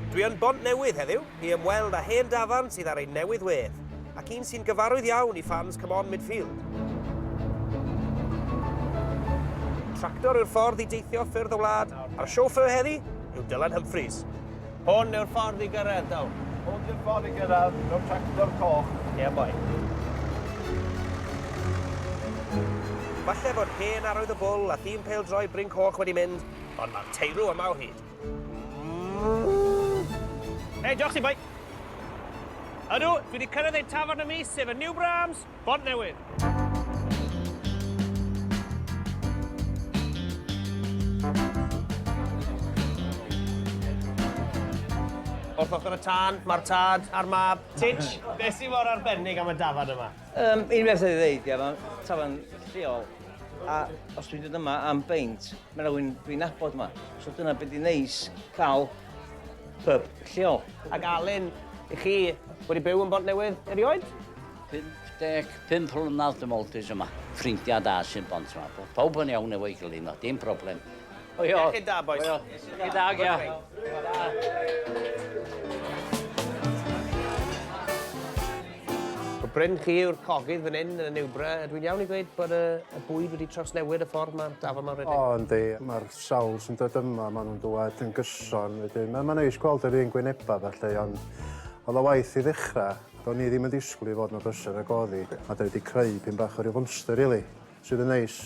Dwi yn Bontnewydd heddiw i ymweld â hen dafarn sydd ar ei newydd wedd, ac un sy'n gyfarwydd iawn i ffans Come On Midfield. Tractor yw'r ffordd i deithio ffyrdd y wlad, a'r chauffeur heddi yw Dylan Humphreys. Hwn yw'r ffordd i gyrraedd, Dyl. Hwn yw'r ffordd i gyrraedd, mewn tractor coch. Ie, yeah, boi. Falle fod hen arwydd y bwl a thîm pêl-droi Bryn Coch wedi mynd, Ond mae'r teirw yma o hyd. Hei, diolch ti, boi. Ydw, dwi wedi cyrraedd ein tafarn y mis, sef y New Brahms, Bont Newydd. Wrth ochr y tân, mae'r tad a'r mab. Titch, beth sy'n mor arbennig am y dafarn yma? Um, un beth oedd ei ddeud, mae tafarn lleol, a os dwi'n dod yma am beint, mae rhywun dwi'n nabod yma. So dyna beth i'n neis cael pub lleol. Ac Alun, i chi wedi byw yn Bont Newydd erioed? 55 mlynedd dim oltis yma. Ffrindiau da sy'n bont yma. Pawb yn iawn efo'i gilydd yma, dim problem. Hwyl. Ie, chi'n da, bois. Hwyl. Chi'n da, gia. O Bryn chi yw'r cogydd fan hyn yn y Newbra. Dwi'n iawn i ddweud bod y, y bwyd wedi trawsnewid y ffordd mae'r dafod mae'n rhedeg? O, yndi. Mae'r sawl sy'n dod yma, maen nhw'n dywed yn gyson. Wedyn, mae'n ma neis gweld yr un gwynebau felly, ond oedd o waith i ddechrau. Do'n ni ddim yn disgwyl i fod yn y bysau yn y goddi, a da wedi creu pyn bach o ryw fwmster, really. sydd yn neis.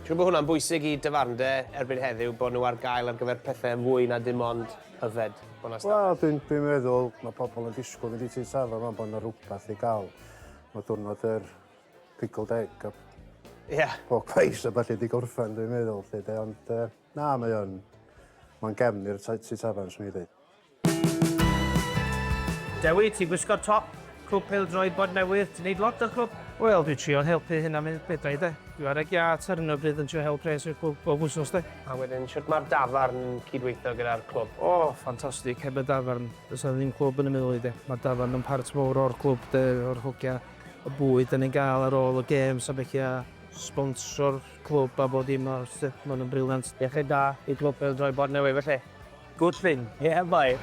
Siwr bod hwnna'n bwysig i dafarndai erbyn heddiw, bod nhw ar gael ar gyfer pethau yn fwy na dim ond yfed, bod 'na stafell. Wel, dwi'n dwi meddwl, mae pobl yn disgwyl fynd i tŷ tafarn rwan, bod 'na rhywbeth i gael. Mae diwrnod yr pickled egg a yeah. pork pies a falle di gorffen, dwi'n meddwl, lle de. Ond uh, na, mae o'n... Mae'n gefn i'r tŷ tafarn, swn i ddweud. Dewi, ti'n gwisgo'r top, clwb pêl droed bod newydd, ti'n neud lot o'r clwb? Wel, dwi'n trio'n helpu hyn am mynd bedau de. Dwi ar y giat ar hyn o bryd yn trio help pres i'r clwb bob wsos de. A wedyn, sut mae'r dafarn yn cydweithio gyda'r clwb? O, ffantastig, heb y dafarn, does na ddim clwb yn y Milwy de. Mae'r dafarn yn part mowr o'r clwb de, o'r hogia, y bwyd dan ni'n gael ar ôl y gêms a felly a sbonso'r clwb a bod dim arall de, maen nhw'n briliant. Iechyd da i glwb pêl droed bod newydd felly. Good thing, yeah boi!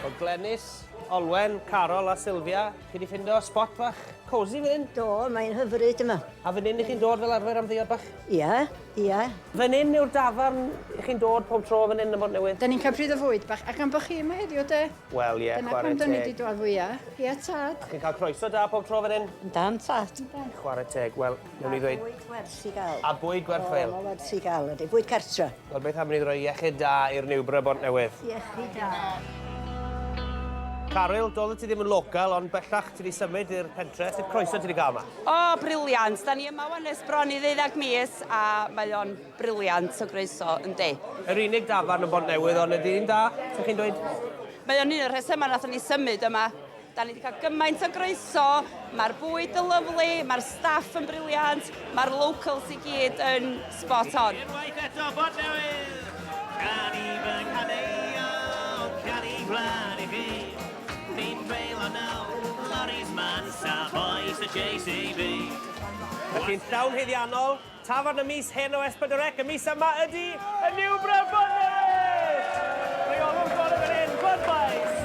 O Glenys, Olwen, Carol a Sylvia, chi di ffindo spot fach cosy fan hyn? Do, mae'n hyfryd yma. A fan hyn i chi'n dod fel arfer am ddiod bach? Ia, ia. Fan hyn yw'r dafarn i chi'n dod pob tro fan hyn yn Mont Newydd? Da ni'n cael pryd o fwyd bach, ac am bod chi yma heddiw de? Wel ie, chwarae teg. Dyna pam da ni di dod fwya. Ia tad. A chi'n cael croeso da pob tro fan hyn? Yn dan tad. Chwarae teg, wel, Newn ni ddweud... A bwyd werth 'i ga'l. A bwyd gwerth chweil. O, ma' werth 'i ga'l ydi. Bwyd cartra. Wel beth am ni roi iechyd da i'r niwbr o Bontnewydd? Iechyd da. Caryl, doeddet ti ddim yn local, ond bellach ti 'di symud i'r pentre. Sut croeso ti 'di gael 'ma? O, briliant! Da ni yma wan ers bron i ddeuddag mis, a mae o'n briliant o groeso, yndi. Yr unig dafarn yn Bontnewydd, ond ydi'n dda, 'sech chi'n dweud? Mae o'n un o'r rhesymau nathon ni symud yma. Da ni wedi cael gymaint o groeso, mae'r bwyd yn lyflu, mae'r staff yn briliant, mae'r locals i gyd yn spot on. Unwaith eto, Bod Newydd! Gan i fy nghadeio, can i gwlad i chi. Fi'n dreulio nawr, lorries man, sa bois y JCB. Felly'n llawn haeddiannol, Tafarn y Mis Hen o S4C y mis yma ydy y New Brawd Bonnet! Rheolwr golwg yr hen Budweiss!